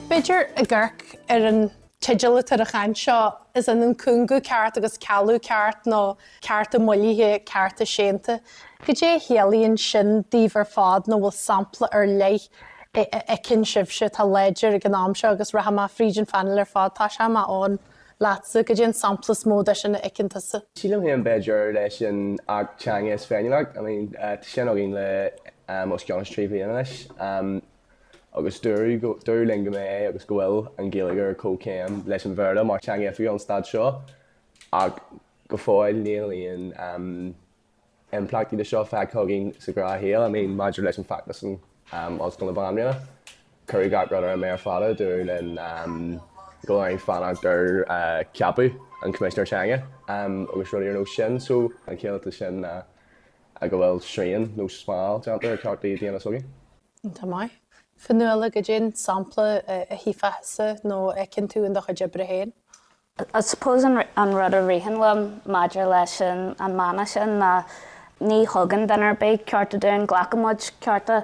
B'fhéidir, ag amharc ar an teideal atá ar an chaint seo, is ionann cúngú ceart agus cealú ceart nó cearta moillithe, cearta séanta. Goidé a chiallaíonn sin daoibh ar fad nó bhfuil sampla ar leith a fheiceann sibhse atá láidir ag an am seo agus rachaidh mé fríd an phainéal ar fad, tosóidh mé, Eoghan, leatsa, goidé an sampla is mó de sin a fheiceann tusa? Sílim féin b'fhéidir leis an Acht Teanga is Féiniúlacht, I mean tá sé sin againn le os cionn is trí bhliana anois agus dúradh go, dúradh linn go mbeidh agus go bhfuil an Ghaeilge ar comhchéim leis an Bhéarla mar theanga oifigiúil an Stáit seo ach, Go fóill níl aon impleachtaí de seo feicthe againn sa ghnáthshaol. I mean, maidir leis an feachtas in Ollscoil na Banríona, cuireadh gach rud ar an méar fada, dúradh linn go bhfuil orainn fanacht ar cheapadh an Choimisinéir Teanga agus rudaí ar nós sin. So, an chiall de sin ná go bhfuil srian nó smál déanta ar chearta daonna s'againn. Tá maith. Fionnuala, goidé'n sampla a chífeása nó a fheiceann tú in do chuid oibre féin? I suppose an rud a ritheann liom maidir leis an mana sin ná ní thugann duine ar bith cearta dúinn, glacann muid cearta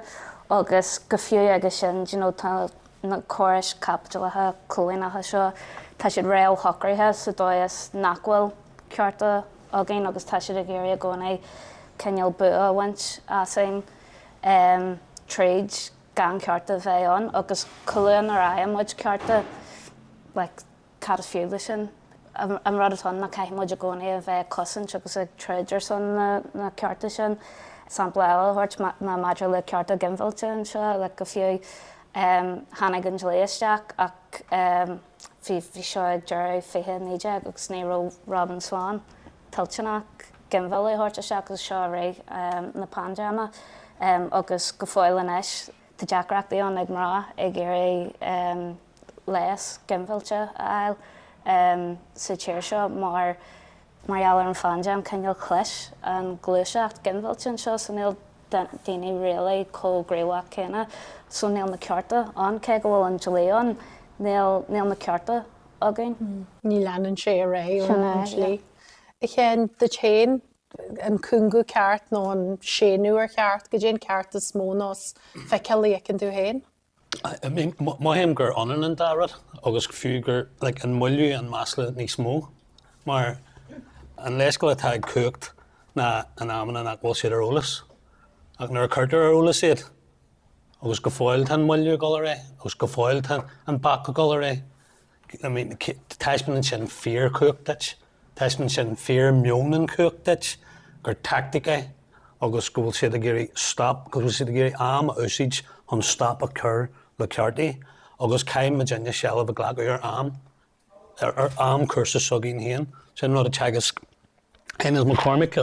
agus go fiú aige sin you know tá na córais caipitleacha coilíneacha seo, tá siad réamhshocraithe sa dóigh is nach bhfuil cearta againn agus tá siad ag iarraidh i gcónaí cineál bua a bhaint asainn em tríd gan cearta bheith ann agus go fiú nuair a fhaigheann muid cearta like cad is fiú leis sin? an rud atá ann ná caithfidh muid i gcónaí a bheith ag cosaint agus ag troid ar son na cearta sin. Sampla eile a thabhairt ná maidir le cearta ginmhillte anseo, like go fiú, tháinig an dlí isteach ach bhí seo ag deireadh fiche a naoi déag agus ní raibh Robin Swann toilteanach ginmhilleadh a thabhairt isteach agus seo i rith na paindéime agus go fóill anois tá deacrachtaí ann ag mná ag iarraidh leigheas ginmhillte a fháil sa tír seo mar gheall ar an phaindéim, cineál chlis an ghluaiseacht ginmhillte anseo, so níl daoine really chomh gníomhach céanna, so níl na cearta ann, cé go bhfuil an dlí ann, níl na cearta againn. Ní leanann sé ar aghaidh ón dlí. Sin é, yeah. A Sheáin, duit féin, an cúngú ceart nó an séanadh ar cheart, goidé an ceart is mó nó is feiceálaí a fheiceann tú féin? Mothaím gur ionann an dá rud agus go fiú gur like an moilliú an masla níos mó mar an leithscéal atá ag cumhacht ná in amanna nach bhfuil siad ar eolas ach nuair a cuirtear ar eolas iad agus go fóill tá an moilliú ag dul ar aghaidh agus go fóill tá an bac ag dul ar aghaidh. Taispeánann sin fíor cumhacht duit, taispeánann sin fíor meon an chumhacht duit gur tactic é agus go bhfuil siad ag iarraidh stop, go bhfuil siad ag iarraidh am a úsaid chun stop a chur le cearta agus caithfidh muidne seilbh a ghlacadh ar am, ar am cúrsa s'againn féin. Sin an rud a theagasc Inez McCormack,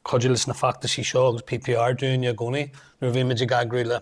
cuid de na feachtais seo agus PPR dúinne i gcónaí nuair a bhímid ag eagrú le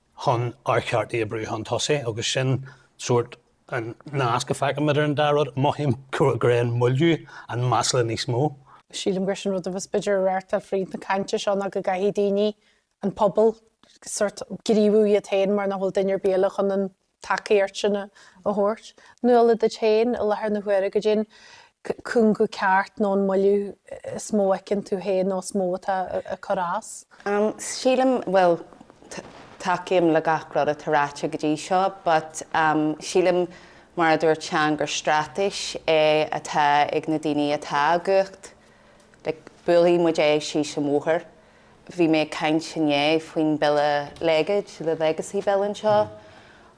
chun ár gcearta a bhrú chun tosaigh agus sin sórt an nasc a fheicim idir an dá rud. Mothaím gurb é an moilliú, an masla níos mó. Sílim gur sin rud a bheas b'fhéidir ag reáchtáil fríd na cainte seo ná go gcaithfidh daoine, an pobal, sórt gníomhú iad féin mar nach bhfuil duine ar bith eile chun an. tacaíocht sin a thabhairt. Nuala, duit féin i láthair na huaire caidé an cúngú ceart nó an moilliú is mó a fheiceann tú féin nó is mó atá ag cur as? Am, Sílim, bhuel, tacaím le gach rud atá ráite go dtí seo but am sílim mar a dúirt Seán gur straitéis é atá ag na daoine atá i gcumhacht, like buailfidh muid é síos an bóthar. Bhí mé ag caint inné faoin Bille Legacy, The Legacy Bill anseo,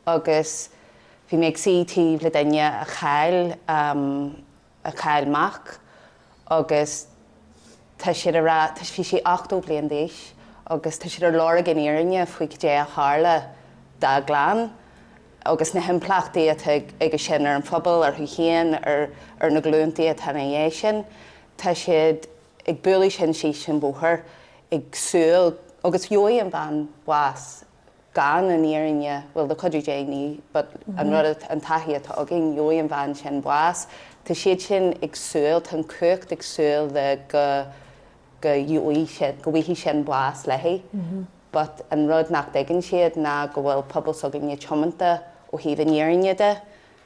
agus bhí mé ag suí taobh le duine a chaill a chaill mac agus tá siad a rá, bhí sí 80 bliain d'aois agus tá siad ar lorg an fhírinne faoi caidé a tharla dá gclann agus na himpleachtaí atá aige sin ar an phobal, orthu féin, ar na glúntaí atá ina dhiaidh sin. Tá siad. ag bualadh sin síos an bóthar ag súil agus go bhfaighidh an bhean bás gan an fhírinne bhuel do chuid daoine but an rud atá an taithí atá againn gheobhaidh an bhean sin bás tá siad sin ag súil tá an chumhacht ag súil le go go gheobhaidh sin go bhfaighidh sin bás léi but an rud nach dtuigeann siad ná go bhfuil pobal s'againne tiomanta ó thaobh an fhírinne de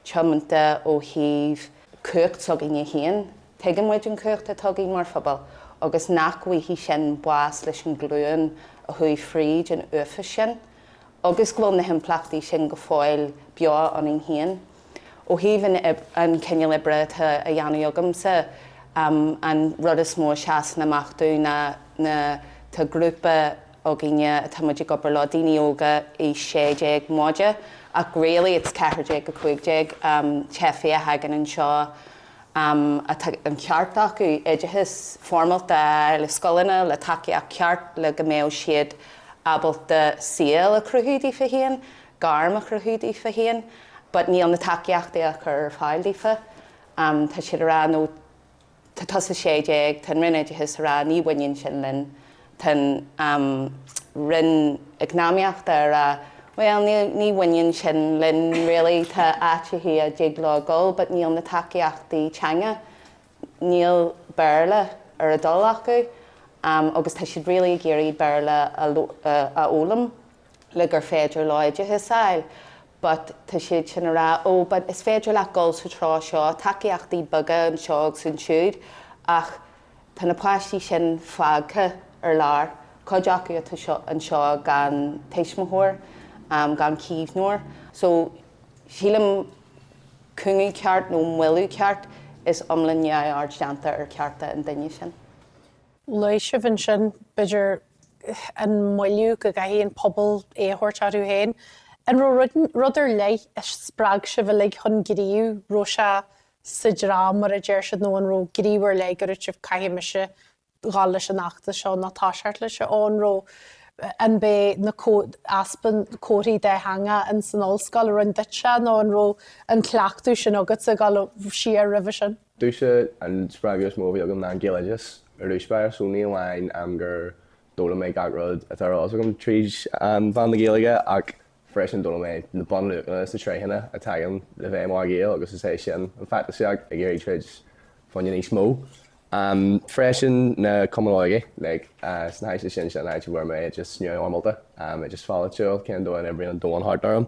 tiomanta ó thaobh cumhacht s'againne féin, tuigeann muid an chumhacht atá againn mar phobal agus nach bhfaighidh sin bás leis an ghlúin a chuaigh fríd an uafás sin agus go bhfuil na himpleachtaí sin go fóill beo ionainn féin. Ó thaobh an chineál oibre atá á dhéanamh agamsa, an rud is mó a sheasann amach dom ná tá grúpa, óg againne, tá muid ag obair leo, daoine óga, aois 16, móide ach really it's 14-15, teifigh a thagann anseo atá an ceart acu oideachas foirmeálta a fháil i scoileanna le tacaíocht cheart le go mbeadh siad ábalta saol a chruthú daofa féin, gairm a chruthú daofa féin but níl na tacaíochtaí á gcur ar fáil daofa. Tá siad a rá no. Tá tusa 16, Tá an Roinn Oideachais ag rá ní bhaineann sin linn. Tá an Roinn Eacnamaíochta ag rá bhuel ní bhaineann sin linn really, tá áiteachaí a dtig leo a dhul but níl na tacaíochtaí teanga, níl Béarla ar a dtoil acu agus tá siad really ag iarraidh Béarla a fhoghlaim. le gur féidir leo oideachas a fháil but tá siad sin ag rá oh but is féidir leat dul sa treo seo, tacaíochtaí beaga anseo agus ansiúd ach tá na páistí sin fágtha ar lár, cuid acu anseo gan tuismitheoir, gan caomhnóir so sílim cúngú ceart nó moilliú ceart is iomlán neamhaird déanta ar chearta an duine sin. Luaigh sibh ansin b'fhéidir an moilliú go gcaithfidh an pobal é a thabhairt orthu féin. An raibh rud ar leith a spreag sibh uilig chun gnímh? raibh sé sa dream mar a deir siad nó an raibh gníomh ar leith gur dhúirt sibh caithfidh mise dul leis an fheachtas seo nó tá seart leis an an raibh an b'é an easpa comharthaí dátheangach insan ollscoil a rinn duitse nó an raibh an cleachtadh sin agatsa dul siar roimhe sin? Domhsa an spreagadh is mó a bhí agam ná an Gaeloideachas ar dtús báire so ní amháin gur d'fhoghlaim mé gach rud atá ar eolas agam tríd mheán na Gaeilge ach freisin d'fhoghlaim mé na bunluachanna is na tréitheanna a thagann le bheith i mo Ghael agus is é sin an feachtasaíocht, ag iarraidh troid faoi choinne níos mó freisin, na cumainn óige like sna háiteanna sin, sin an áit a bhfuair mé oideachas neamhfhoirmeálta, oideachas polaitiúil, cén dóigh a n-oibríonn an domhan thart orm.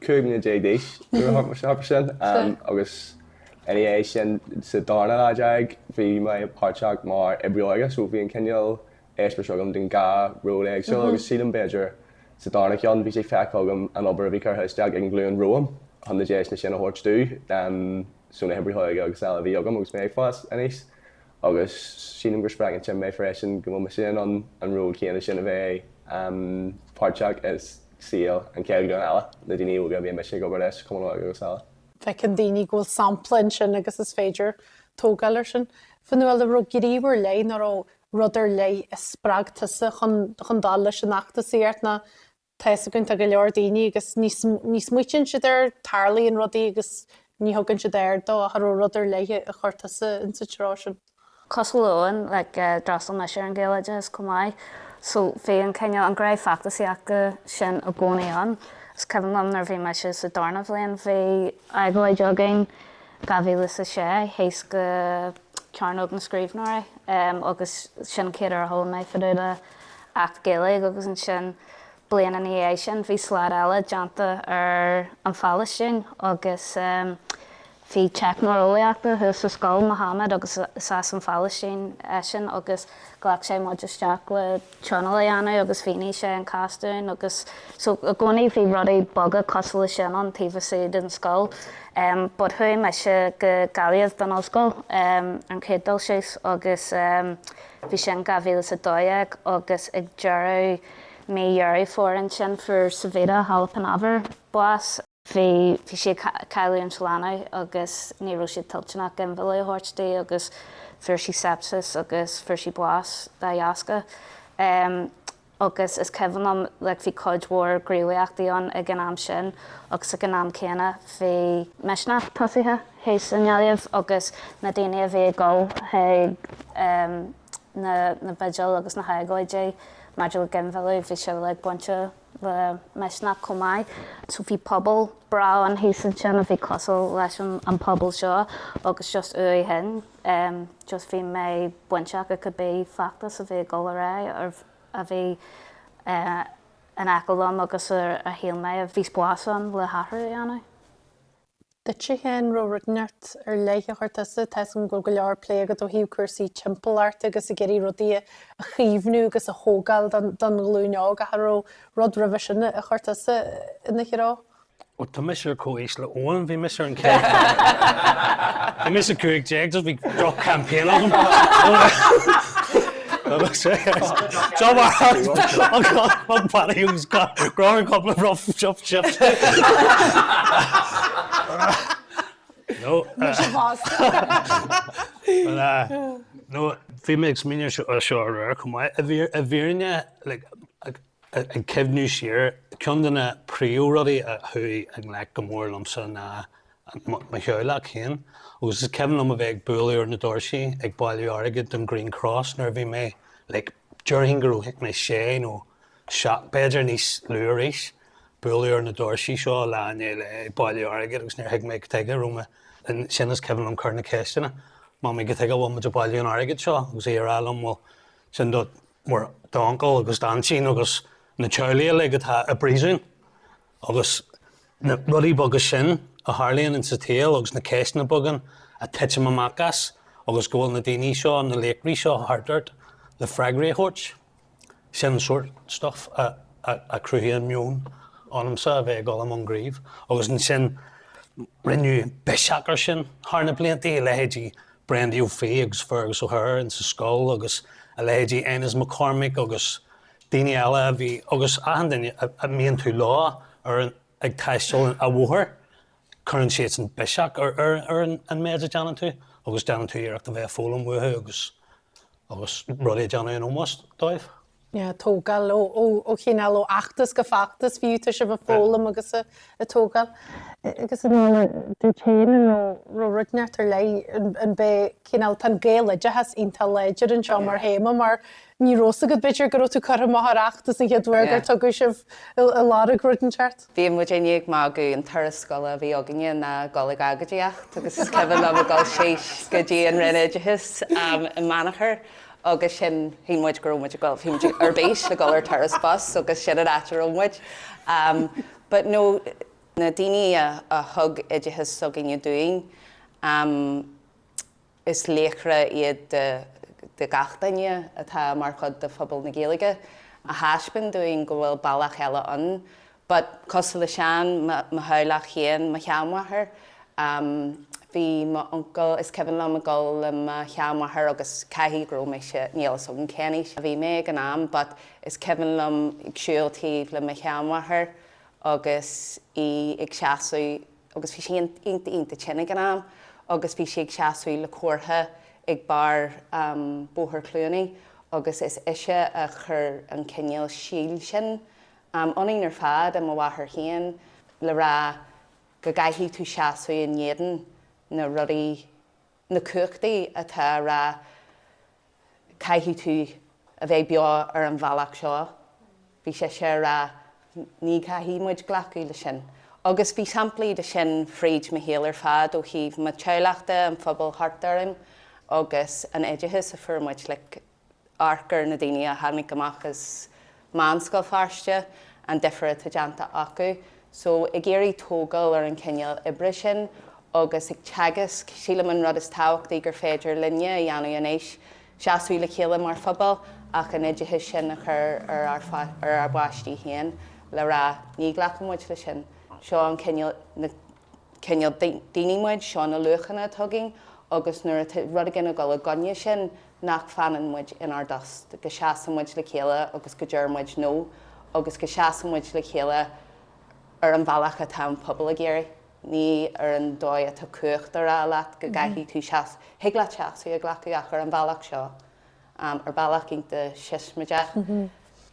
15 mbliana d'aois nuair a tharla sé sin agus ina dhiaidh sin sa darna leath déag bhí mé páirteach mar oibrí óige so bhí an cineál eispéiris agam den dhá ról éagsúil agus sílim b'fhéidir sa darna ceann bhí sé feicthe agam an obair a bhí curtha isteach ag an ghlúin romham chun na deiseanna sin a thabhairt dúinn so na hoibrithe óige agus eile a bhí agam agus mé ag fás aníos agus sílim go spreagann sin mé freisin go bhfuil mise in ann an ról céanna sin a bheith páirteach i saol, an chéad ghlúin eile, na daoine óga a bhíonn mise ag obair leis, Cumann Óige agus eile. feiceann daoine go bhfuil sampla ansin agus is féidir tógáil air sin. Fionnuala, an raibh gníomh ar leith, nó an raibh rud ar leith a spreag tusa chun chun dul leis an fheachtas? Ceart nó tá fhios againn tá go leor daoine agus ní ní smaoitíonn siad air, tarlaíonn rudaí agus ní thugann siad aird dó ach an raibh rud ar leith a chuir tusa insa treo sin? cosúil uainn, like d'fhreastail mise ar an Ghaeloideachas chomh maith so bhí an cineál, an ghné feachtasaíochta sin i gcónaí ann. Is cuimhin liom nuair a bhí mise sa darna bhliain bhí agóid againn, dhá mhíle is a sé, thíos go Cearnóg na Scríbhneoirí em agus sin an chéad uair a chuala mé fadúda Acht Gaeilge agus ansin bliain ina dhiaidh sin bhí slad eile déanta ar an Phailistín agus em Bhí teicneoir eolaíochta thuas sa scoil Mohammed agus is as an Phailistín eisean agus ghlac sé muid isteach le tionól a dhéanamh agus mhínigh sé an cás dúinn agus so i gcónaí bhí rudaí beaga cosúil leis sin ann taobh istigh den scoil em but chuaigh mise go Gaillimh don ollscoil em an chéad dul síos agus em bhí sin 2012 agus ag deireadh mí Dheireadh Fómhair ansin fuair Savita Halappanavar bás bhí sí ag cailleadh an leanbh agus ní raibh siad toilteanach ginmhilleadh a thabhairt di agus fuair sí sepsis agus fuair sí bás dá dheasca. Agus is cuimhin liom like bhí cuid mhór gníomhaíochtaí ann ag an am sin agus ag an am céanna bhí Misneach tosaithe thíos i nGaillimh agus na daoine a bhí ag dul chuig na na vigil agus na hagóidí maidir le ginmhilleadh bhí siad like bainteach le Misneach chomh maith. So bhí pobal breá ann thíos ansin a bhí cosúil leis an an pobal seo agus just uaidh shin just bhí mé bainteach i cibé feachtas a bhí ag dul ar aghaidh a bhí in aice liom agus ar shíl mé a bhí spás ann le hathrú a dhéanamh. Duitse féin an raibh rud inteacht ar leith a chuir tusa, tá a fhios againn go go leor plé agat ó thaobh cúrsaí timpeallachta agus ag iarraidh rudaí a chaomhnú agus a thógáil don don ghlúin óg ach an raibh rud roimhe sin a chuir tusa ina threo. Ó tá mise ar comhaois le Eoin, bhí mise ar an chéad bhí mise 15 so bhí droch campaign agam. Nó, bhí mé ag smaoineamh seo aréir chomh maith, i bhfírinne, ag cuimhniú siar, ceann de na príomhrudaí a chuaigh i ngleic go mór liomsa ná mo theaghlach féin agus is cuimhin liom a bheith ag bualadh ar na doirsí ag bailiú airgid don Green Cross nuair a bhí mé like déarfainn go raibh mé sé nó seacht, b'fhéidir níos lú arís, bualadh ar na doirsí seo lá i ndiaidh lae ag bailiú airgid agus níor thuig mé cad tuige a raibh mé ansin is cuimhin liom cur na ceisteanna, Mamaí cad tuige a bhfuil muid ag bailiú an airgid seo agus í a rá liom bhuel sin do d'uncail agus d'aintín agus na teaghlaigh uilig atá i bpríosún. agus na rudaí beaga sin a tharlaíonn sa tsaol agus na ceisteanna beaga ag titim amach as agus go bhfuil na daoine seo, na laochraí seo thart ort le freagraí a thabhairt. Sin an sórt stuif a chruthaíonn meon ionamsa a bheith ag dul i mbun gnímh agus ansin rinneadh biseach ar sin thar na blianta, leithéidí Brendy Ó Fiaich agus Fergus O'Hare insa scoil agus a leithéidí Inez McCormack agus daoine eile a bhí, agus achan duine a mbíonn tú leo, ar an, ag taisteal an, a bhóthair, cuireann siadsan biseach ar, ar, ar an, an méid a déanann tú agus déanann tú iarracht a bheith ag foghlaim uathu agus, agus rudaí a dhéanamh in ómós dóibh. yeah, tógáil ó, ó, ó chineál ó fheachtas go feachtas fiú, tá sibh ag foghlaim agus a, a tógáil. Agus an dtéann nó an raibh tionchar ar leith an, an é cineál, tá an Gaeloideachas iontach láidir anseo mar théama mar Ní raibh a fhios agat, b'fhéidir, go raibh tú chomh maith ar achtais an chéad uair gur tugadh sibh i lár an ruda i gceart? Bhí muidinne ag magadh, an turas scoile a bhí againne ná ag dul ag agoidíocht agus is cuimhin liom ag dul síos go dtí an Roinn Oideachais i mBeannachar agus sin, shíl muid go raibh muid ag dul, bhí muid ar bís le dul ar turas bus agus sin an áit a raibh muid. But no, na daoine a thug oideachas s'againne dúinn, Is laochra iad do gach duine atá mar chuid de phobal na Gaeilge a thaispeáin dúinn go bhfuil bealach eile ann. But, cosúil le Seán, mo theaghlach féin, mo sheanmháthair, bhí m'uncail, is cuimhin liom ag dul le mo sheanmháthair agus caithfidh go raibh mise, níl fhios agam cén aois a bhí mé ag an am, but is cuimhin liom ag siúl taobh le mo sheanmháthair agus í ag seasamh agus bhí sí iontach, iontach tinn ag an am agus bhí sí ag seasamh le comhartha ag barr Bhóthar Chluanaí agus is ise a chuir an cineál síol sin ionainn ar fad, i mo mháthair féin le rá go gcaithfidh tú seasamh in éadan na rudaí na cumhachtaí atá ag rá caithfidh tú a bheith beo ar an bhealach seo, bhí sise ag rá ní chaithfidh muid glacadh le sin. Agus bhí samplaí de sin fríd mo shaol ar fad ó thaobh mo theaghlach de, an phobail thart orainn agus an oideachas a fuair muid. Like. amharc ar na daoine a tháinig amach as Meánscoil Feirste, an difear atá déanta acu. So, ag iarraidh tógáil ar an chineál oibre sin agus ag teagasc, sílim an rud is tábhachtaí gur féidir linne a dhéanamh anois, seasamh le chéile mar phobal ach an oideachas sin a chur ar ár, ar ár bpáistí féin le rá, ní ghlacann muid leis sin, seo an cineál, na. cineál daoine muid, seo na luachanna atá againn agus nuair atá rud éigin ag dul i gcoinne sin, nach bhfanann muid inár dtost, go seasann muid le chéile agus go ndeir muid 'No' agus go seasann muid le chéile ar an bhealach atá an pobal ag iarraidh, ní ar an dóigh atá cumhacht á rá leat go gcaithfidh tú seasamh. Thig leat seasamh a ghlacadh ach ar an bhealach seo. ar bhealach iontach siosmaideach,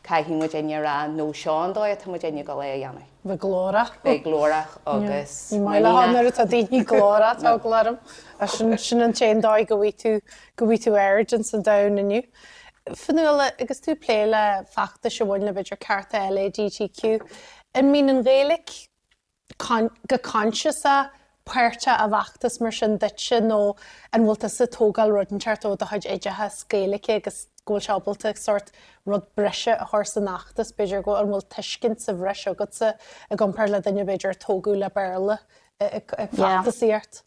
caithfidh muidinne a rá, no, seo an dóigh atá muidinne ag dul é a dhéanamh. Bheith glórach. Bheith glórach agus muiníneach. Ní maith leofa nuair atá daoine glórach, tá eagla orm. Sin an t-aon dóigh go bhfaighidh tú aird ins an domhan inniu. Fionnuala, agus tú ag plé le feachtais a bhaineann le, b'fhéidir, cearta LADTQ, an mbíonn an Ghaeilge, go coinsiasach páirteach i bhfeachtas mar sin duitse nó an bhfuil tusa ag tógáil rud inteacht ó do chuid oideachais Gaeilge agus go bhfuil sé ábalta sort rud breise a chur san fheachtas, b'fhéidir, go an bhfuil tuiscint sa bhreis agatsa i gcomparáid le duine b'fhéidir a tógadh le Béarla ag feachtasaíocht?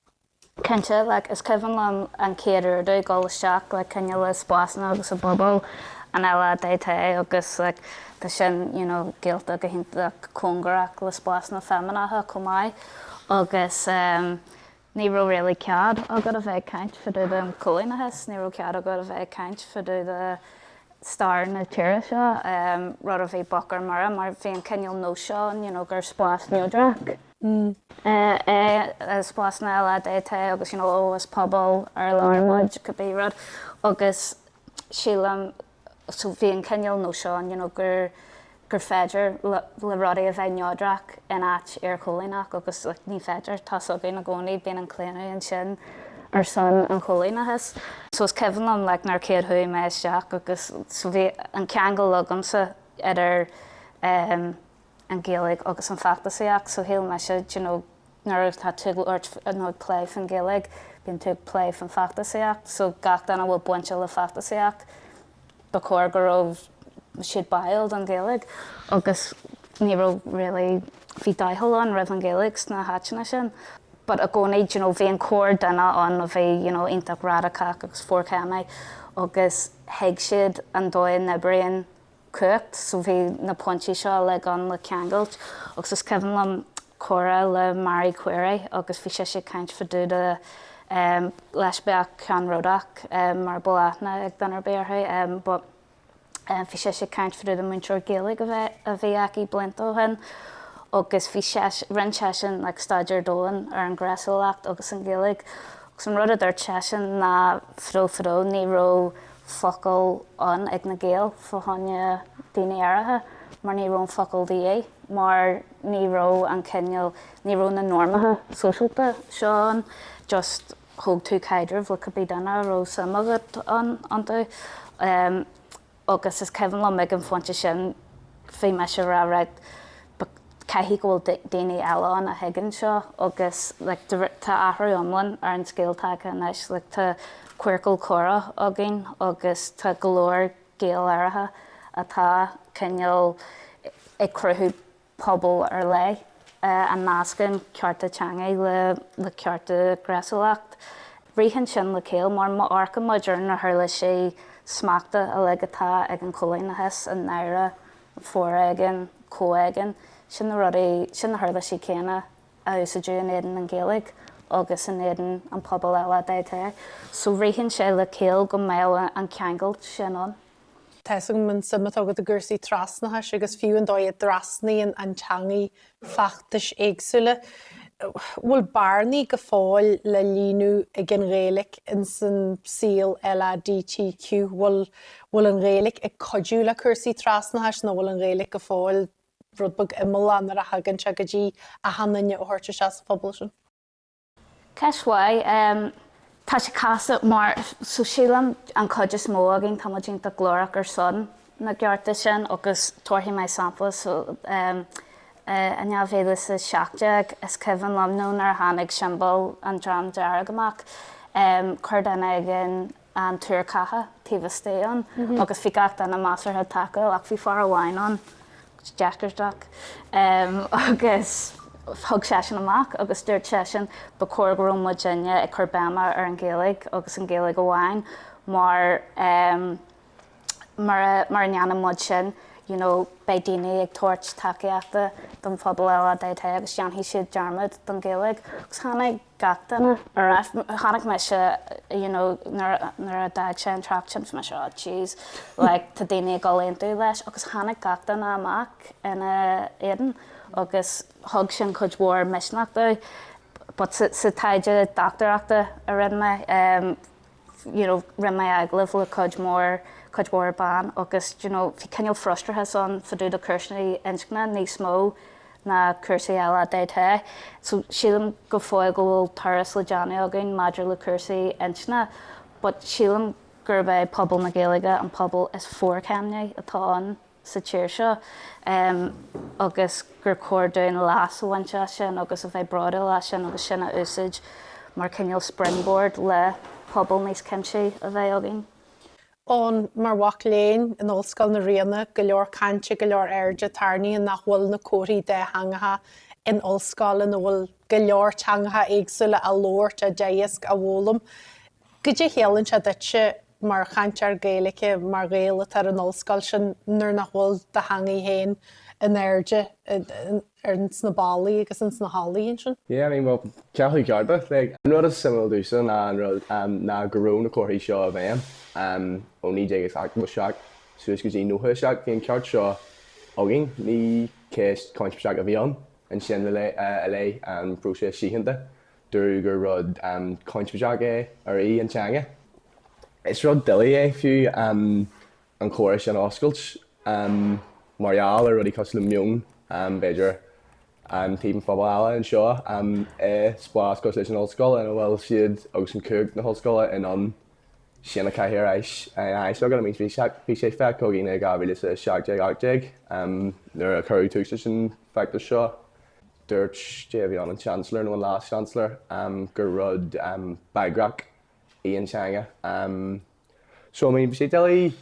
Cinnte, like, is cuimhin liom an chéad uair domh ag dul isteach like cineál i spásanna agus i bpobal an LADT agus, like, tá sin, you know, gaolta go hiontach cóngarach le spásanna feimineacha chomh maith agus, em, ní raibh really cead agat a bheith ag caint fá dtaobh den chóilíneachas, ní raibh cead agat a bheith ag caint fá dtaobh de stair na tíre seo, em, rud a bhí bocht ar mire mar bhí an cineál nós seo ann, you know, gur spás neodrach. é i spásanna LADT agus you know ó is pobal ar lár muid cibé rud agus sílim so bhí an cineál nós seo ann you know gur gur féidir le rudaí a bheith neodrach in áit iarchóilíneach agus like ní féidir tá a fhios againn i gcónaí bíonn an claonadh ansin ar son an chóilíneachas so is cuimhin liom like nuair chéad chuaigh mé isteach agus so bhí an ceangal agamsa idir eh an Ghaeilge agus an feachtasaíocht. So shíl mise d'you know nuair atá tú ag labhairt nó ag plé faoin Ghaeilge, bíonn tú ag plé faoin feachtasaíocht, so gach duine a bhfuil bainte le feachtasaíocht, ba chóir go raibh siad báúil don Ghaeilge. Agus ní raibh really, bhí doicheall ann roimh an Ghaeilge sna háiteanna sin. But i gcónaí d'you know bhí an corrdhuine ann a bhí you know iontach radacach agus forchéimneach agus thuig siad an dóigh a n-oibríonn cumhacht. So bhí na pointí seo uilig ann le ceangailt agus is cuimhin liom comhrá le Marie Quiery agus bhí sise ag caint fá dtaobh de, leispiach ceannródaíoch mura bhfuil aithne ag duine ar bith uirthi but bhí sise ag caint fá dtaobh de múinteoir Gaeilge a bhí aici blianta ó shin agus bhí seisean, rinn seisean like staidéar domhain ar an ghnéasúlacht agus an Ghaeilge agus an rud a dúirt seisean ná fadó fadó ní raibh focal ann ag na Gaeil fá choinne daoine aeracha, mar ní raibh an focal de dhíth, mar ní raibh an cineál, ní raibh na normacha sóisialta seo ann, just thóg tú caidreamh le cibé duine a raibh suim agat ann, iontu. Agus is cuimhin liom ag an phointe sin, bhí mise ag rá, right, Caithfidh go bhfuil daoine eile ann a thuigeann seo agus tá athrú iomlán ar an scéal tagtha anois. Tá Queercal Comhrá againn agus tá go leor Gaeil aeracha atá cineál ag cruthú pobal ar leith a nascann cearta teanga le cearta gnéasúlachta. Ritheann sin le céill mar má amharcann muid ar na huirlisí smachta uilig atá ag an choilíneachas i ndáiríre, foréigean, comhéigean, sin na rudaí, sin na huirlisí céanna a úsáideadh in éadan na Gaeilge agus in éadan an pobal LADT. So ritheann sé le céill go mbeadh an ceangailt sin ann. Tá's agam an suim atá agat i gcúrsaí trasnachais agus fiú an dóigh a dtrasnaíonn an teangaidh feachtais éagsúla. bhfuil bearnaí go fóill le líonadh ag an Ghaeilge ins an saol LADTQ? Bhfuil bhfuil an Ghaeilge ag cuidiú le cúrsaí trasnachais nó bhfuil an Ghaeilge go fóill rud beag imeallach nuair a thagann sé go dtí achan duine a thabhairt isteach sa phobal sin? Ceist mhaith. Tá sé casta mar so sílim an chuid is mó againn táimid iontach glórach ar son na gcearta sin agus tabharfaidh mé sampla so I ndá mhíle is a seacht déag is cuimhin liom nó nuair a tháinig siombal an Dream Dearg amach chuir duine éigin an tuar ceatha taobh istigh ann agus bhí gach duine measartha tacúil ach bhí fear amháin ann, deacair doc, agus thug seisean amach agus dúirt seisean ba chóir go raibh muidinne ag cur béime ar an Ghaeilge agus an Ghaeilge amháin mar mura ndéanann muid sin you know beidh daoine ag tabhairt tacaíochta don phobal LADT agus déanfaidh siad dearmad den Ghaeilge agus tháinig gach duine ar ais tháinig mise you know nuair nuair a d'fhág sé an trácht sin bhí mise oh jeez like tá daoine ag dul aontú leis agus tháinig gach duine amach ina éadan agus thug sin cuid mhór misneach domh but sa taighde dochtúireachta a rinne mé um, you know rinne mé agallamh le cuid mhór cuid mhór ban agus d'you know bhí cineál frustrachas ann fá dtaobh do chúrsaí inscne níos mó ná cúrsaí LADT so sílim go fóill go bhfuil turas le déanamh againn maidir le cúrsaí inscne but sílim gurb é pobal na Gaeilge an pobal is forchéimnithí atá ann. sa tír seo agus gur chóir dúinn leas a bhaint as sin agus a bheith bródúil as sin agus sin a úsáid mar cineál springboard le pobal níos cuimsithí a bheith againn. Eoin, Mar mhac léinn in Ollscoil na Ríona, go leor cainte, go leor airde tarraingthe nach bhfuil na comharthaí dátheangacha in ollscoil ina bhfuil go leor teangacha éagsúla á labhairt, á dteagasc, á bhfoghlaim. Goidé chiallaíonn sé duitse mar chainteoir Gaeilge, mar Ghael atá ar an Ollscoil sin nuair nach bhfuil do theangaidh féin in airde ar sna ballaí agus ins na hallaí ansin? Yeah, I mean, bhuel, cealú cearta, like, an rud is suimiúil domhsa ná go raibh na comharthaí seo i bhfeidhm ó 1977 suas go dtí 97, bhí an ceart seo againn, ní ceist chointinneach a bhí ann ansin i leith an phróisis síochána. dúradh gur rud cointinneach arbh í an teanga. Is rud doiligh é fiú an comhrá sin a oscailt mar gheall ar rudaí cosúil le meon, b'fhéidir, i dtaobh an phobail eile anseo i spás cosúil leis an ollscoil ina bhfuil siad agus an chuid na hollscoile in ann sin a chaitheamh ar ais agat, I mean bhí sé fiú chugainn i 2017, 18, nuair a cuireadh tús leis an bhfeachtas seo, Dúirt, bhí an chancellor, nó an leas-chancellor, gur rud bagrach í an teanga. So, I mean, bhí sé doiligh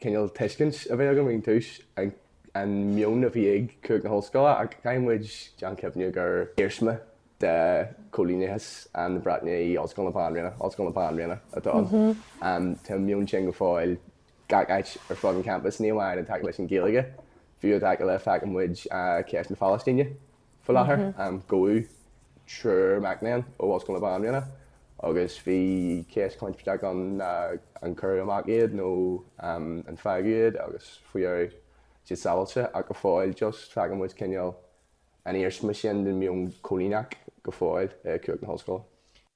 cineál tuiscint a bheith againn ón tús ar an meon a bhí ag cuid na hollscoile, ach caithfidh muid déanamh cinnte gur iarsma de choilíneachas na Breataine í Ollscoil na Banríona, Ollscoil na Banríona atá ann. Tá an meon sin go fóill gach áit ar fud an champais, ní amháin i dtaca leis an Ghaeilge, fiú i dtaca le, feiceann muid cás na Palaistíne faoi láthair. Gabhadh triúr mac léinn ó Ollscoil na Banríona agus bhí cás cointinneach ann an gcuirfí amach iad nó an bhfágfaí iad agus faoi dheireadh tá siad sábháilte ach go fóill just feiceann muid cineál an iarsma sin den mheon coilíneach go fóill ag cuid na hollscoile.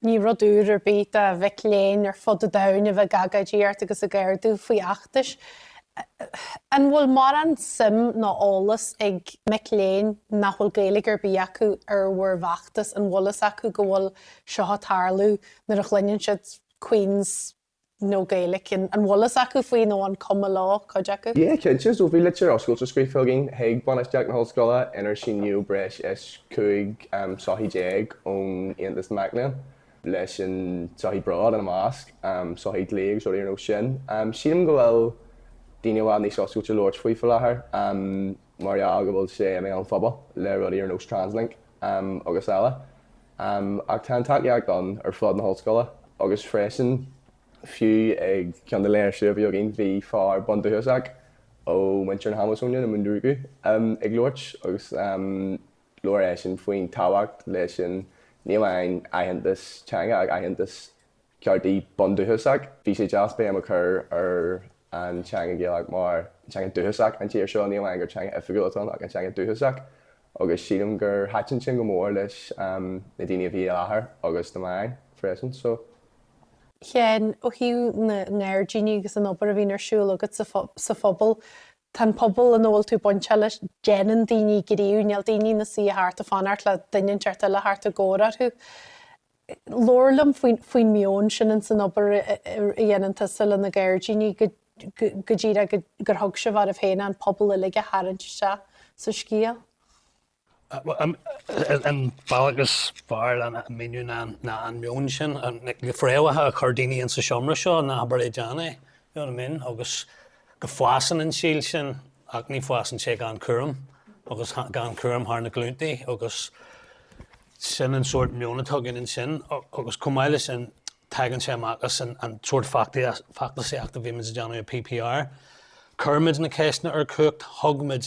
Ní rud úr ar bith do mhic léinn ar fud an domhain a bheith ag agóidíocht agus ag gardú faoi fheachtais. An bhfuil mórán suim nó eolas ag mic léinn nach bhfuil Gaeilge ar bith acu ar bhur bhfeachtas? An bhfuil a fhios acu go bhfuil seo ag tarlú nuair a chluineann siad Queen's nó Gaeilge, an bhfuil a fhios acu faoi nó an cuma leo, cuid acu? Yeah, cinnte. So, bhí litir oscailte scríofa againn chuig bainistíocht na hollscoile inar shínigh breis is 15 sochaí ón Aontas Mac Léinn, leis an tsochaí Bród ina measc, sochaí dlí agus rudaí ar nós sin. Sílim go bhfuil daoine i bhfad níos oscailte labhairt faoi faoi láthair mar gheall go bhfuil sé i mbéal an phobail le rudaí ar nós Translink agus eile. Um, ach tá an tacaíocht ann ar fud na hollscoile agus freisin fiú ag ceann de na léirsithe a bhí againn bhí fear bundúchasach ó mhuintir na hAmasóine, na Munduruku, um, ag labhairt agus um, labhair eisean faoin tábhacht leis an, ní amháin aitheantas teanga ach aitheantas. ceartaí bundúchasach. Bhí sé deas béim a chur ar an teanga Ghaelach mar teanga dúchasach an tír seo, ní amháin gur teanga oifigiúil atá ann ach an teanga dúchasach agus sílim gur thaitin sin go mór leis na daoine a bhí i láthair agus na meáin freisin. So. Sheáin, ó thaobh na ngairdíní agus an obair a bhíonn ar siúl agat sa phobal, tá an pobal ina bhfuil tú bainteach leis, déanann daoine gníomh, níl daoine ina suí thart ag fanacht le duine inteacht eile tarrtháil a thabhairt orthu. labhair liom faoin meon sin ins an obair a dhéanann tusa leis na gairdíní go dtí gur thug sibh oraibh féin an pobal uilig a tharraingt isteach sa scéal. An bealach is fearr lena míniú ná an meon sin, na fréamhacha a chuir daoine insa seomra seo, an obair a dhéanamh, you know what I mean, agus go bhfásann an síol sin ach ní bhfásann sé gan cúram agus gan cúram thar na glúntaí agus sin an sórt meon a tugann ansin agus chomh maith le sin tagann sé amach as an sórt feachtasaíocht a bhímid ag déanamh i PPR. Cuirimid na ceisteanna ar chumhacht, thug muid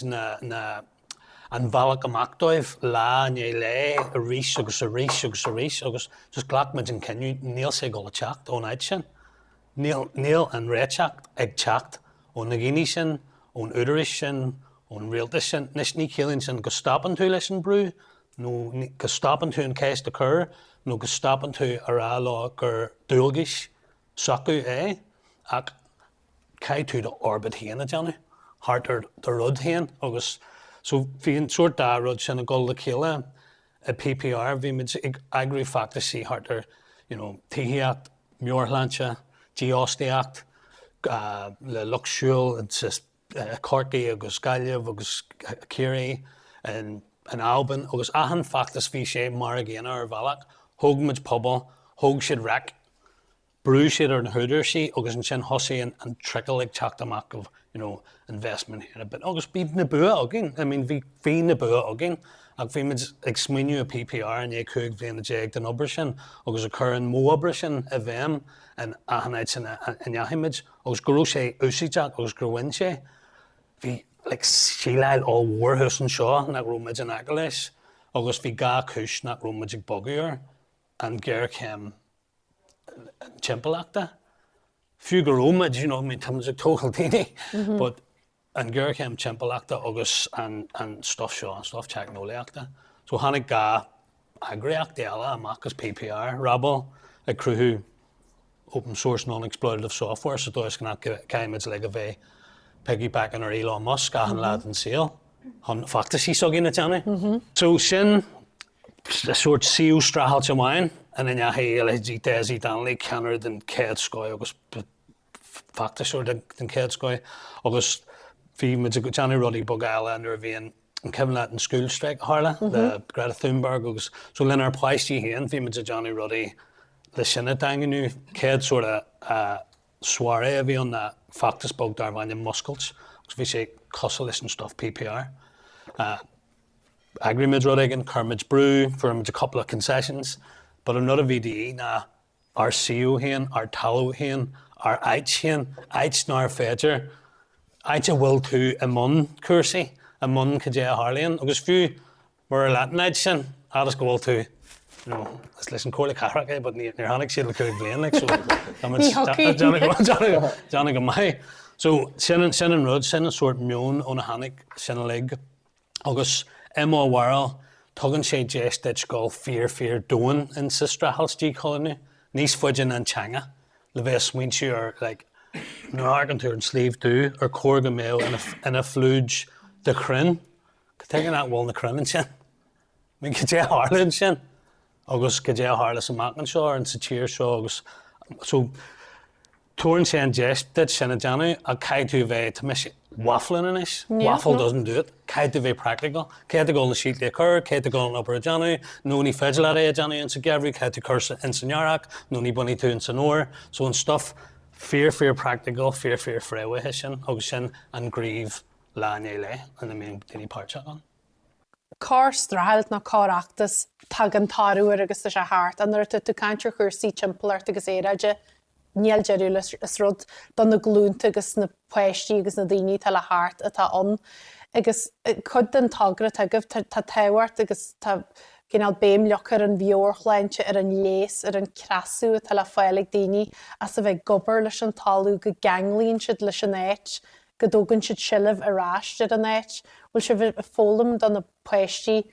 an bhealach amach dóibh lá i ndiaidh lae arís agus arís agus arís agus just glacaimid an cinneadh, níl sé ag dul ag teacht ón áit sin. Níl an réiteach ag teacht ó na daoine sin, ón údaráis sin, ón rialtas sin. Anois, ní chiallaíonn sin go stopann tú leis an brú, nó go stopann tú an cheist a chur, nó go stopann tú a rá leo gur dualgais s'acu é, ach caithfidh tú d'fhorbairt féin a dhéanamh thart ar do rud féin agus, so, bhí an sórt dá rud sin ag dul le chéile. I PPR, bhí muid ag eagrú feachtaisí thart ar you know tithíocht, meabhairshláinte, dífhostaíocht le lucht siúil i Corcaigh agus Gaillimh agus Ciarraí, in Albain agus achan feachtas bhí sé mar a gcéanna ar bhealach, thóg muid pobal, thóg siad raic. bhrúigh siad ar na húdaráis agus ansin thosaigh an trickle ag teacht amach of, you know, investment here a bit agus bhí na bua againn, I mean, bhí na bua againn ach bhí muid ag smaoineamh i PPR i ndiaidh cúig bhliana déag den obair sin agus ag cur an modh oibre sin i bhfeidhm in achan áit ina ndeachaigh muid agus go raibh sé úsáideach agus gur bhain sé, bhí like síleáil ollmhór thuas anseo nach raibh muid in aice leis agus bhí dhá chúis nach raibh muid ag bogadh air, an ghéarchéim. timpeallachta, fiú go raibh muid, you know, tá muid ag tógáil daoine, but an géarchéim timpeallachta agus an an stuff seo, an stuff teicneolaíochta. So tháinig dhá eagraíocht eile amach as PPR, Rabble ag cruthú open source non-exploitative software sa dóigh is go nach gcaithfidh muid uilig a bheith piggybacking ar Elon Musk achan lá den saol chun feachtaisí s'againn a dhéanamh. So sin sórt suíomh streachailte amháin ina ndeachaigh Aoiligh G. Dessie Donnelly, ceannaire den chéad scoth agus feachtasóir den chéad scoth, agus bhí muid ag déanamh rudaí beaga eile nuair a bhí an cuimhin leat an school strike a tharla le Greta Thunberg agus so lenár bpáistí féin bhí muid ag déanamh rudaí le sin a dhaingniú. Chéad sort of soirée a bhí ann ná feachtas beag darbh ainm Múscailt agus bhí sé cosúil leis an stuif PPR. Eagraímid rud éigin, cuirimid brú, for a couple of concessions, but an rud a bhí de dhíth ná ár suíomh féin, ár talamh féin, ár áit féin, áit nár féidir, áit a bhfuil tú i mbun cúrsaí, i mbun cad é a tharlaíonn agus fiú murar leat an áit sin, fhad is go bhfuil tú, you know, is leis an Chomhairle Cathrach é but níor tháinig siad le cúig bhliain, like, so déanfaidh go maith. So sin an rud, sin an sórt meon óna tháinig sin uilig. agus i mo bharúil tugann sé deis duit dul fíor-fíor domhain in sa streachailt díchoilíniú níos faide ná an teanga le bheith ag smaointiú ar like nuair a amharcann tú ar an Sliabh Dubh ar chóir go mbeadh ina phluid de chrainn cad chuige nach bhfuil na crainn ansin. Cad é a tharla ansin agus cad é a tharlós amach anseo ins an tír seo agus so tabharann sé an deis duit sin a dhéanamh ach caithfidh tú a bheith, tá mise waffling anois, waffle doesn't do it, caithfidh tú a bheith practical. Caithfidh tú dul na síoltaí a chur, caithfidh tú dul an obair a dhéanamh, nó ní féidir leat é a dhéanamh ins an gheimhreadh, caithfidh tú cur ins an earrach, nó ní bhainfidh tú ins an fhómhar. So an stuff fíor fíor practical, fíor fíor fréamhaithe sin agus sin an gníomh lá i ndiaidh lae ina mbíonn daoine páirteach ann. Char streachailt nó char fheachtas a dtagann toradh air agus tá sé thart. Nuair atá tú ag caint ar chúrsaí timpeallachta agus aeráide, níl deireadh leis. Is rud do na glúnta agus na páistí agus na daoine atá le theacht atá ann. Agus cuid den togra atá agaibh, tá tábhacht agus tá cineál béim ar leith ar an mheabhairshláinte, ar an leigheas, ar an cneasú atá le fáil ag daoine as a bheith ag obair leis an talamh, go gceanglaíonn siad leis an áit. go dtógann siad seilbh ar ais ar an áit, bhfuil sibh ag foghlaim do na páistí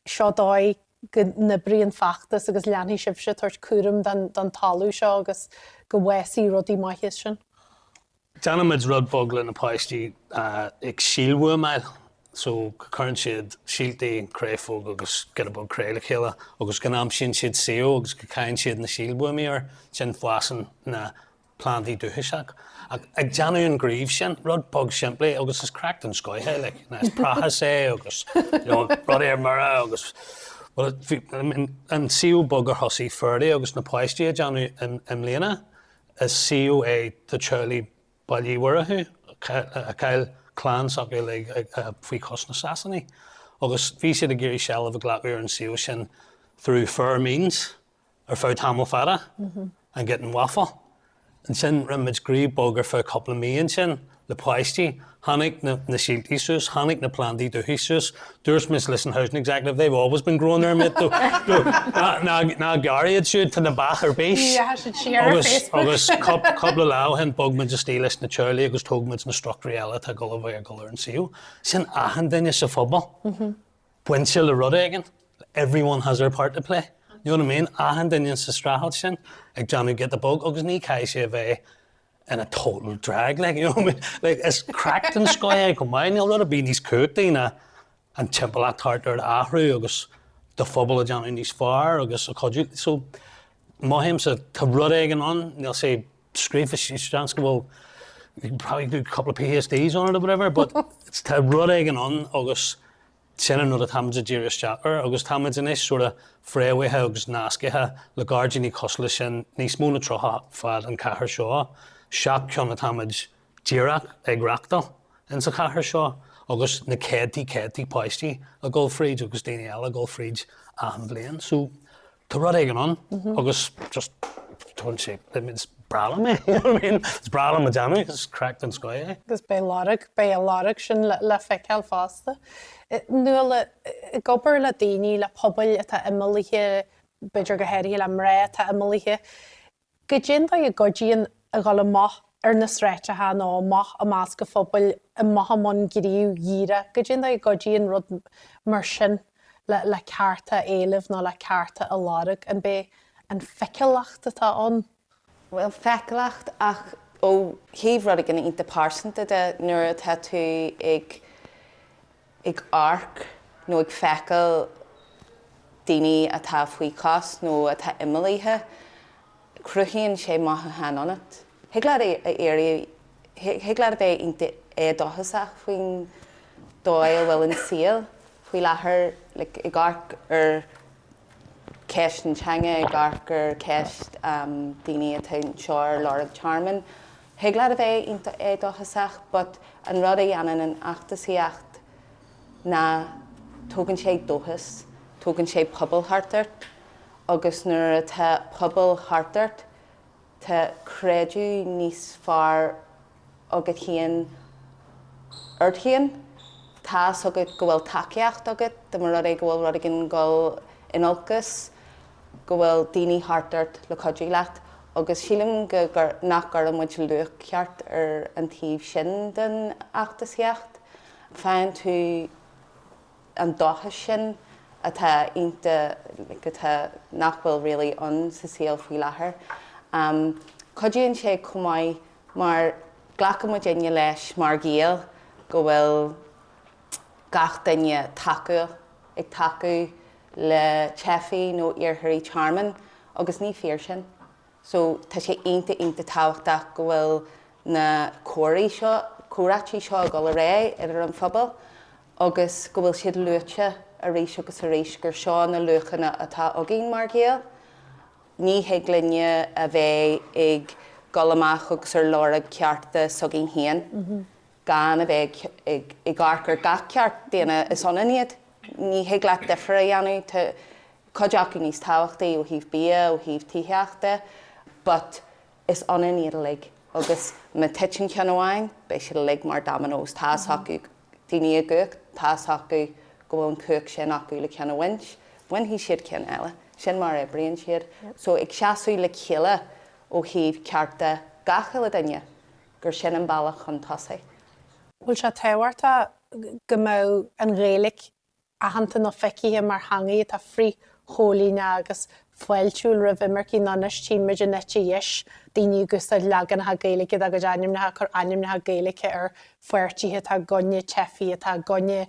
seo dóigh go n-oibríonn feachtas agus leanfaidh sibhse tabhairt cúram don don talamh seo agus go bhfásfaidh rudaí maithe as sin? Déanaimid rud beag le na páistí ag síolbhuamáil so go cuireann siad síoltaí, créafóg agus giota beag cré le chéile agus go n-aimsíonn siad suíomh agus go gcaitheann siad na síolbhuamaí air, ansin fásann na. plandaí dúchasach, ach ag déanamh an ghnímh sin, rud beag simplí agus is craic den scoith é, like, you know, is prácás é agus, you know, rudaí ar mire agus, well, bhí, I mean, an suíomh beag a thosaigh Ferdie agus na páistí a déanamh i, i mbliana, is suíomh é do theaghlaigh Bhaile Uí Mhurchú a chaill clann s'acu, like, ag, a, faoi chois na Sasanaigh. Agus bhí siad ag iarraidh seilbh a ghlacadh ar an suíomh sin through fair means. Ar feadh tamall fada, and getting waffle. Ansin rinne muid gníomh beag ar feadh cúpla mí ansin le páistí. Tháinig na síoltaí suas, tháinig na plandaí dúthaigh suas. Dúirt muid leis an housing executive, they've always been growing there mate, ná gearr iad siúd, tá na beacha ar bís. Agus cúpla lá ó shin bhog muid istigh leis na teaghlaigh agus thóg muid na struchtúirí eile atá ag dul ar an suíomh. Sin achan duine sa phobal. bainte le rud éigin, everyone has their part to play, you know what I mean? Achan duine sa streachailt sin ag déanamh giota beag agus ní chaithfidh sé a bheith in a total drag, like, you know what I mean? Like, is craic den scoth é come on, níl rud ar bith níos cumhachtaí ná an timpeallacht thart ort a athrú agus do phobal a déanamh níos fearr agus a chuidiú. So, mothaímsa tá rud éigin ann, níl sé scríofa seans go bhfuil you can probably do a couple of PhDs on it or whatever but tá rud éigin ann agus sin an rud atáimid ag díriú isteach air agus táimid anois sort of fréamhaithe agus nascaithe le gairdíní cosúil leis sin níos mó ná tríocha fud an chathair seo. Seacht ceann atáimid díreach ag reachtáil ins a' chathair seo agus na céadtaí céadtaí páistí a' gul fríd agus daoine eile a' gul fríd achan bhliain so tá rud éigin ann agus just tughann sé, I mean is breá liom é you know what I mean is breá liom a déanamh is craic den scoth é. Agus beidh lorg, beidh a lorg sin le, le feiceáil fosta. Nuala, ag obair le daoine, le pobail atá imeallaithe, b'fhéidir go háirithe le mná atá imeallaithe, cad é an dóigh a gcuidíonn a dhul amach ar na sráideacha nó amach i measc an phobail amach i mbun gnímh dhírigh, cad é an dóigh a gcuidíonn rud mar sin le cearta a éileamh nó le cearta a lorg, an b'é an feiceálacht atá ann? Bhuel, feiceálacht, ach ó thaobh rud éigin iontach pearsanta de, nuair atá tú ag. ag amharc nó ag feiceáil daoine atá faoi chos nó atá imeallaithe, cruthaíonn sé mothúchán ionat. Thig leat éirí, thig leat a bheith iontach éadóchasach faoin dóigh a bhfuil an saol faoi láthair, like ag amharc ar cheist na teanga, ag amharc ar cheist daoine atá anseo ar lorg tearmainn, Thig leat a bheith iontach éadóchasach but an rud a dhéanann an fheachtasaíocht ná tógann sé dóchas, tógann sé pobal thart ort agus nuair atá pobal thart ort tá creideamh níos fearr agat féin ort féin, tá's agat go bhfuil tacaíocht agat, dá mba rud é go bhfuil rud éigin ag dul in olcas. go bhfuil daoine thart ort le cuidiú leat agus sílim go, nach gcuireann muid luach ceart ar an taobh sin den fheachtasaíocht. Faigheann tú an dóchas sin atá iontach, atá, nach bhfuil really ann sa saol faoi láthair. Cuidíonn sé chomh maith mar glacann muidinne leis mar Ghaeil go bhfuil gach duine tacúil, ag tacú. le teifigh nó iarrthóirí tearmainn agus ní fíor sin. So, tá sé iontach, iontach tábhachtach go bhfuil na comharthaí seo, comhráití seo ag dul ar aghaidh idir an phobal agus go bhfuil siad luaite arís agus arís gur seo na luachanna atá againn mar Ghaeil. Ní thig linne a bheith ag dul amach agus ar lorg cearta s'againn féin. gan a bheith ag amharc ar gach ceart daonna, is ionann iad. Ní thig leat difear a dhéanamh. Tá cuid acu níos tábhachtaí ó thaobh bia, ó thaobh tithíocht de, but is ionann iad uilig agus má titeann ceann amháin, beidh siad uilig mar dominoes. Tá's acu daoine i gcumhacht, tá's acu go bhfuil an chumhacht sin acu le ceann a bhaint, bainfidh siad ceann eile. Sin mar a oibríonn siad. So ag seasamh le chéile ó thaobh cearta gach uile duine. gur sin an bealach chun tosaigh. bhfuil sé tábhachtach go mbeadh an Ghaeilge aitheanta nó feicthe mar theanga atá frithchoilíneach agus fáiltiúil roimh imircigh nó anois tímid an eite dheis daoine ag úsáid leaganacha Gaeilge dá gcuid ainmneacha, ag cur ainmneacha Gaeilge ar pháirtithe atá i gcoinne teifigh, atá i gcoinne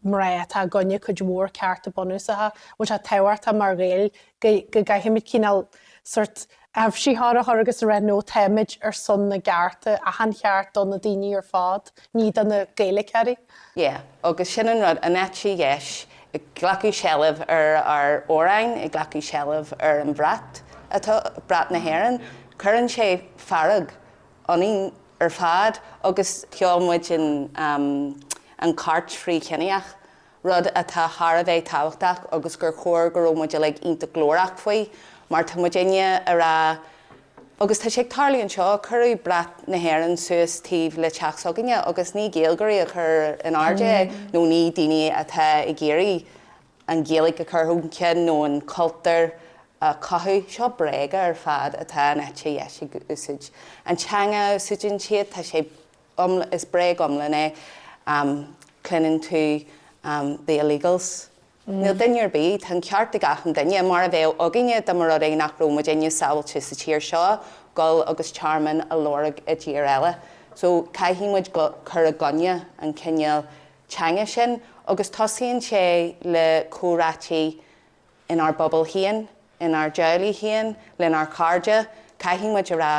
mná atá i gcoinne cuid mhór cearta bunúsacha bhfuil sé tábhachtach mar Ghaeil go gcaithfimid cineál sórt aibhsitheoir a chur agus a rá no táimid ar son na gcearta achan cheart do na daoine ar fad ní do na Gaeilgeoirí. Yeah agus sin an rud, an eite dheis ag glacadh seilbh ar ár amhráin, ag glacadh seilbh ar an bhrat atá, brat na hÉireann, cuireann sé fearg ionainn. ar fad agus sheol muid an chairt fhrithchiníoch, rud atá thar a bheith tábhachtach agus gur chóir go raibh muid uilig iontach glórach faoi mar tá muidinne a rá agus tá sé ag tarlú anseo, cuireadh brat na hÉireann suas taobh le teach s'againne agus ní Gaeilgeoirí a chuir in airde é nó ní daoine atá ag iarraidh an Ghaeilge a chur chun cinn nó an cultúr a chothú, seo bréaga ar fad atá an eite dheis ag úsáid. An teanga a úsáideann siad, tá sé iomlán, is bréag iomlán é, cluineann tú the illegals, níl duine ar bith, tá an ceart ag achan duine, mar a bheadh againne dá mba rud é nach raibh muid inniu sábháilte sa tír seo, goil agus tearmann a lorg i dtír eile. So caithfidh muid cur i gcoinne an cineál teanga sin agus tosaíonn sé le comhráití inár bpobal féin, inár dteaghlaigh féin, lenár chairde, caithfidh muid a rá,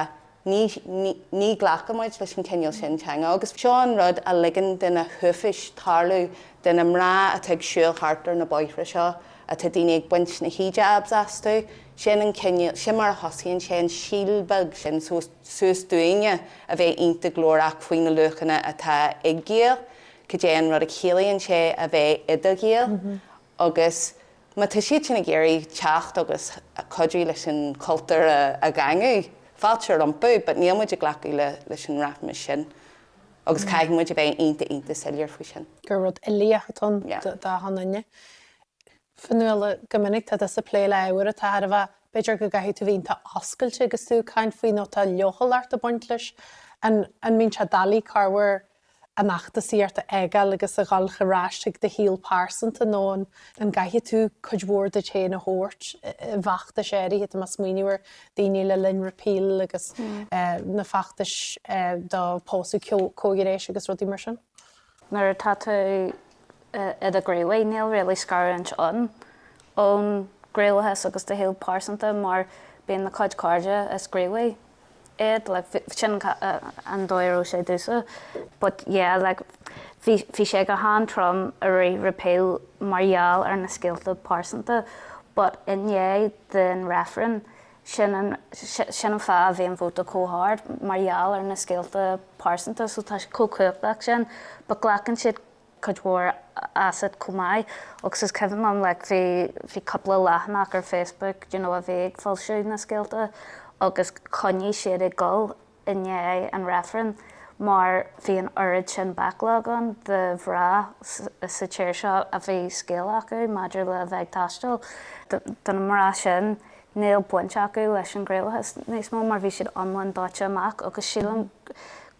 ní, ní, ní ghlacann muid leis an gcineál sin teanga agus seo an rud a ligeann do na huafáis tarlú, do na mná atá ag siúl thart ar na bóithre seo, atá daoine ag baint na hijabs astu, Sin an cineál, sin mar a thosaíonn sé, an síol beag sin suas dúinne a bheith iontach glórach faoi na luachanna atá ag Gael, cad é an rud a chiallaíonn sé a bheith i do Ghael agus má tá siad sin ag iarraidh teacht agus cuidiú leis an chultúr a dhaingniú, fáilte rompu but níl muid ag glacadh leis an rachmas sin agus caithfidh muid a bheith iontach, iontach soiléir faoi sin. gur rud uilíoch atá ann d'achan duine. Fionnuala, Go minic tá tusa ag plé le hábhair atá thar a bheith, b'fhéidir go gcaithfidh tú bhíonn tú oscailte agus tú ag caint faoi nó tá leochaileacht ag baint leis. An an mbíonn sé doiligh corruair an fheachtasaíocht a fhágáil agus a dhul ar ais chuig do shaol pearsanta nó an an gcaithfidh tú cuid mhór díot féin a thabhairt i bhfeachtais áirithe, tá mé ag smaoineamh ar daoine le linn Repeal agus na feachtais do pósadh comhghnéis agus rudaí mar sin? nuair atá tú i do ghníomhaí, níl really scarúint ann ón ghníomhaíochas agus do shaol pearsanta mar bíonn do chuid cairde is gníomhaithe iad, like bhí, sin an dóigh a raibh sé domhsa but yeah like bhí, bhí sé go han-trom i rith Repeal mar gheall ar na scéalta pearsanta but i ndiaidh den reifreann, Sin an fáth a bhí an vóta chomh hard, mar gheall ar na scéalta pearsanta so. Tá siad chomh cumhachtach sin. But glacann siad cuid mhór asat chomh maith. Agus is cuimhin liom like bhí, bhí cúpla leathanach ar Facebook, you know, a bhí ag foilsiú na scéalta agus choinnigh siad ag dul. i ndiaidh an reifrinn mar bhí an oiread sin backlog ann de mhná sa tír seo a bhí scéal acu maidir le bheith ag taisteal. Do na mná sin, níl baint acu leis an ghníomhaíochas níos mó mar bhí siad iomlán dóite amach agus sílim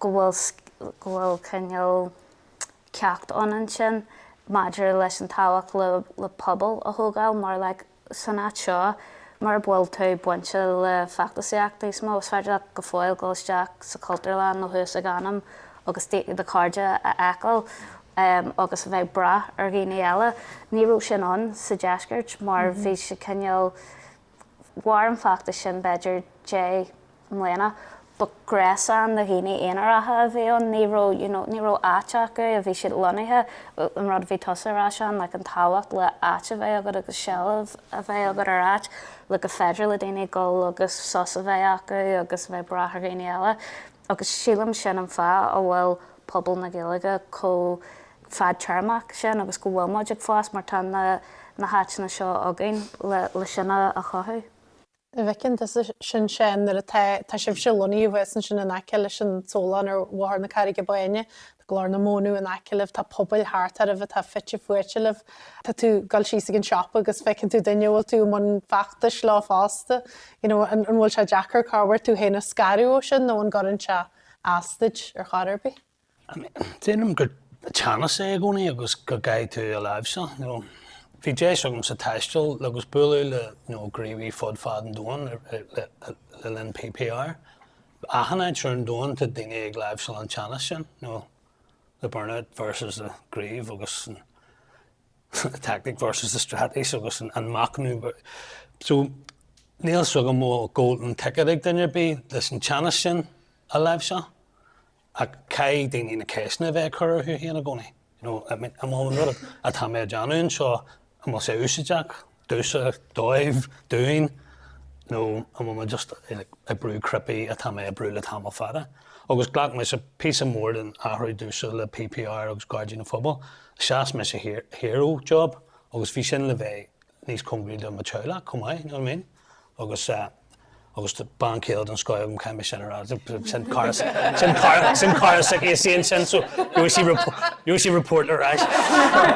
go bhfuil go bhfuil cineál ceacht ann ansin maidir leis an tábhacht le pobal a thógáil mar like san áit seo, mura bhfuil tú bainte le feachtasaíocht níos mó, is féidir leat go fóill dul isteach sa Chultúrlann nó thuas ag Anam agus do chairde a fheiceáil agus a bheith ag brath ar dhaoine eile. Ní raibh sin ann sa deisceart mar bhí sé cineál, mhair an feachtas sin b'fhéidir deich mbliana. Ba ghréasán de dhaoine aonaracha a bhí ann, ní raibh, you know, ní raibh áit acu a bhí siad lonnaithe, an rud a bhí tusa ag rá Seán, like an tábhacht le áit a bheith agat agus seilbh a bheith agat ar áit, le go féidir le daoine dhul agus sos a bheith acu agus a bheith brath ar dhaoine eile. Agus sílim sin an fáth a bhfuil pobal na Gaeilge chomh fadtéarmach sin agus go bhfuil muid ag fás mar tá na, na háiteanna seo againn le, le sin a, a chothú. An bhfeiceann tusa sin Seán nuair atá tá sibhse lonnaithe thuas ansin in aice leis an tsólann ar Bhóthar na Carraige Báine. Tá Glór na Móna in aice libh, tá pobail thart oraibh atá fite fuaite libh. Tá tú ag dul síos ag an siopa agus feiceann tú duine a bhfuil tú i mbun feachtais leo fosta. You know, an bhfuil sé deacair corruair tú féin a scaradh ó sin nó an gcuireann sé as duit ar chor ar bith? Déarfainn gur teannas é i gcónaí agus go gcaithfidh tú a láimhseáil. Bhí deis agamsa taisteal agus bualadh le gníomhaithe fud fad an domhain le linn PPR. Achan áit ar domhan tá daoine ag láimhseáil an teannas sin, the burnout versus the grief agus an tactic versus the straitéis agus an machnamh. So níl 's agam an bhfuil golden ticket ag duine ar bith leis an teannas sin a láimhseáil. Ach caithfidh daoine na ceisteanna a bheith ag cur orthu féin i gcónaí, you know, I mean, an bhfuil an rud atá mé a déanamh anseo, an bhfuil sé úsaideach, domhsa, dóibh, dúinn, nó an bhfuil mé just ag brú cnaipe atá mé ag brú le tamall fada. Agus ghlac mise píosa mór den athrú domhsa le PPR agus Gairdín an Phobail, sheas mise thiar, thiar ó job agus bhí sin le bheith níos cóngaraí do mo teaghlach chomh maith, you know what I mean? Agus eh. agus do bean chéile den scoil agam cáim b'shin ar fhad. Sin cara sin cara sin cara suici is í ansin so you see you see report ar ais.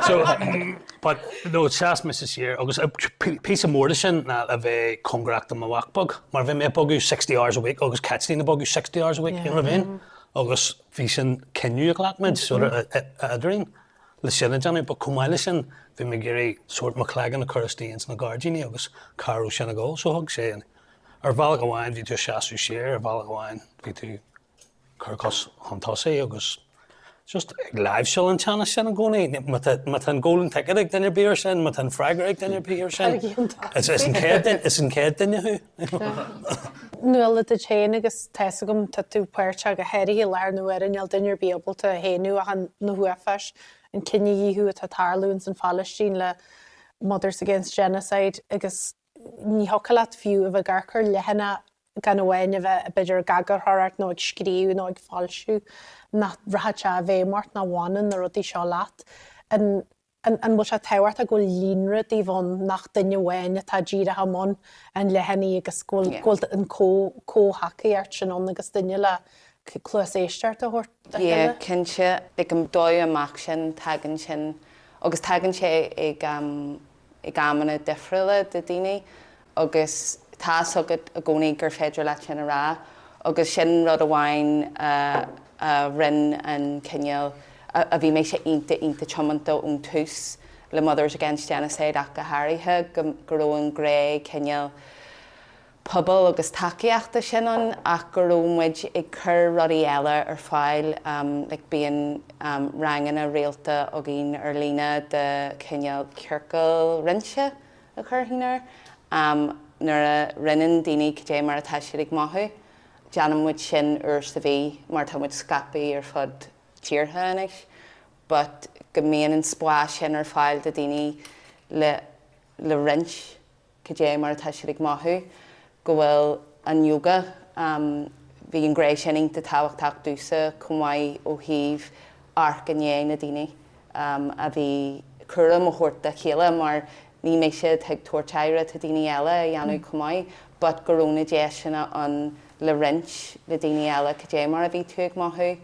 So but no sheas mise siar agus píosa mór de sin ná a bheith cóngarach do mo mhac beag mar bhí mé ag bogadh sixty hours a week agus Caitlín ag bogadh sixty hours a week, you know what I mean? Agus bhí sin cinneadh a ghlac muid so eadrainn. le sin a dhéanamh. But chomh maith le sin, bhí mé ag iarraidh sórt mo chloigeann a chur istigh ins na gairdíní agus cá raibh sin ag dul. So thug sé an, ar bhealach amháin bhí tú ag seasamh siar, ar bhealach amháin bhí tú ag cur cos chun tosaigh agus just ag láimhseáil an teannas sin i gcónaí. Má tá an Golden Ticket ag duine ar bith ar sin, má tá an freagra ag duine ar bith ar sin, is an chéad duine thú. Nuala duit féin agus tá's agam tá tú páirteach go háirithe i láthair na huaire, níl duine ar bith ábalta é a shéanadh ach na huafáis, an cinedhíothú atá tarlú ins an Phailistín le Mothers Against Genocide agus ní thiocfadh leat fiú a bheith ag riar leathanach gan amháin a bheith b'fhéidir ag eagarthóireacht nó ag scríobh nó ag foilsiú nach rachadh sé i bhfeidhm ort nach bhfanann na rudaí seo leat. An. An bhfuil sé tábhachtach go bhfuil líonra daoibh ann nach duine amháin atá díreach i mbun an leathanaigh agus go bhfuil an comhthacaíocht sin ann agus duine le cluas éisteachta a thabhairt dá chéile? Cinnte, agus dóigh amach sin tagann sin agus tagann sé ag amanna difriúla do dhaoine agus tá's agat i gcónaí gur féidir leat sin a rá, agus sin rud amháin a rinne cineál a bhí mise iontach, iontach tiomanta ón tús le Mothers Against Genocide ach go háirithe, go raibh an ghné cineál pobail agus tacaíochta sin ann ach go raibh muid ag cur rudaí eile ar fáil, like bíonn ranganna rialta againn ar líne de chineál ciorcal roinnte a chuirfinn air. Nuair a roinneann daoine cad é mar atá siad ag mothú, déanann muid sin uair sa mhí mar tá muid scaipthe ar fud tíortha anois, but go mbíonn an spás sin ar fáil do dhaoine le roinnt cad é mar atá siad ag mothú, go bhfuil an yoga, bhí an ghné sin iontach tábhachtach domhsa chomh maith ó thaobh amharc i ndiaidh na daoine a bhí, cúram a thabhairt dá chéile mar ní mbeadh siad ag tabhairt aire, tá daoine eile a dhéanamh chomh maith but go raibh na deiseanna ann le roinnt le daoine eile cad é mar a bhí tú ag mothú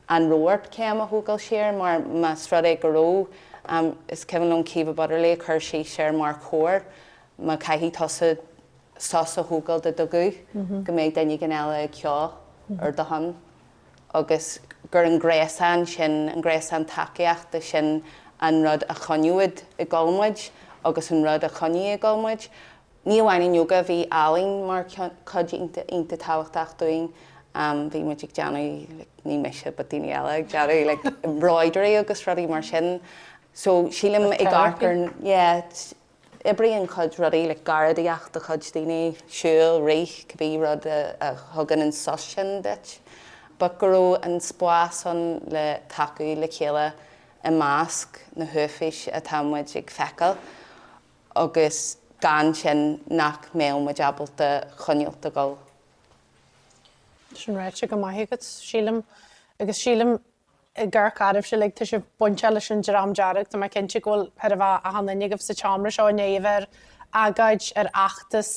an raibh ort céim a thógáil siar mar más rud é go raibh is cuimhin liom Caoimhe Butterly ag cur síos air mar chór má caithfidh tusa sos a thógáil de do ghuth, go mbeidh duine éigin eile ag ceol ar do shon agus gur an gréasán sin, an gréasán tacaíochta sin an rud a choinneoidh ag dul muid agus an rud a choinnigh ag dul muid. Ní amháin an ióga, bhí ealaín mar chuid iontach, iontach tábhachtach dúinn. Bhí muid ag déanamh, ní mise but daoine eile ag déanamh like embroidery agus rudaí mar sin so sílim ag amharc air, yeah. Oibríonn cuid rudaí le garraíodóireacht do chuid daoine, siúl, rith, cibé rud a thugann an sos sin duit. But go raibh an spás ann le tacú le chéile i measc na huafáis atá muid ag feiceáil agus gan sin nach mbeadh muid ábalta coinneáilt ag gabháil. Sin ráite go maith agat, sílim Ag amharc oraibhse uilig tá sibh bainteach leis an Dream Dearg. Tá mé cinnte go bhfuil chóir a bheith achan duine agaibh sa tseomra seo i ndiaidh a bheith ar agóid, ar fheachtas,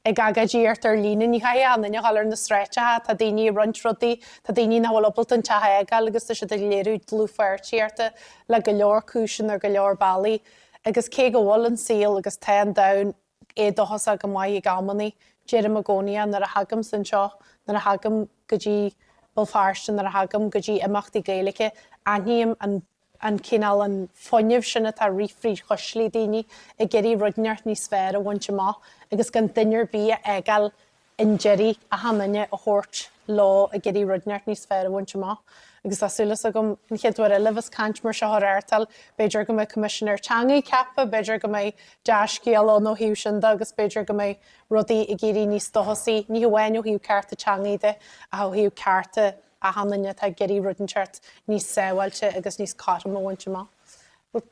ag agóidíocht ar líne. Ní chaithfidh achan duine a ghabháil ar na sráideacha. Tá daoine ag roinnt rudaí, tá daoine nach bhfuil ábalta an teach a fhágáil agus tá siad ag léiriú dlúthpháirtíochta le go leor cúiseanna ar go leor bealaí. Agus cé go bhfuil an saol agus tá an domhan éadóchasach go maith ag amannaí. Deirim i gcónaí é nuair a thagaimse anseo, nuair a thagaim go dtí Béal Feirste, nuair a thagaim go dtí imeachtaí Gaeilge. Aithním an, an cineál, an fuinneamh sin atá ag rith fríd chuislí daoine ag iarraidh rud inteacht níos fearr a bhaint amach agus gan duine ar bith a fhágáil chun deiridh, achan duine a thabhairt leo ag iarraidh rud inteacht níos fearr a bhaint amach. Agus tá súil as agam, an chéad uair eile a bheas caint mar seo á reáchtáil, b'fhéidir go mbeidh Coimisinéir Teanga ceaptha, b'fhéidir go mbeidh dea-scéal ann ó thaobh sin de agus b'fhéidir go mbeidh rudaí ag éirí níos dóchasaí, ní hamháin ó thaobh cearta teanga de ach ó thaobh cearta achan duine atá ag iarraidh rud inteacht níos sábháilte agus níos cothroime a bhaint amach.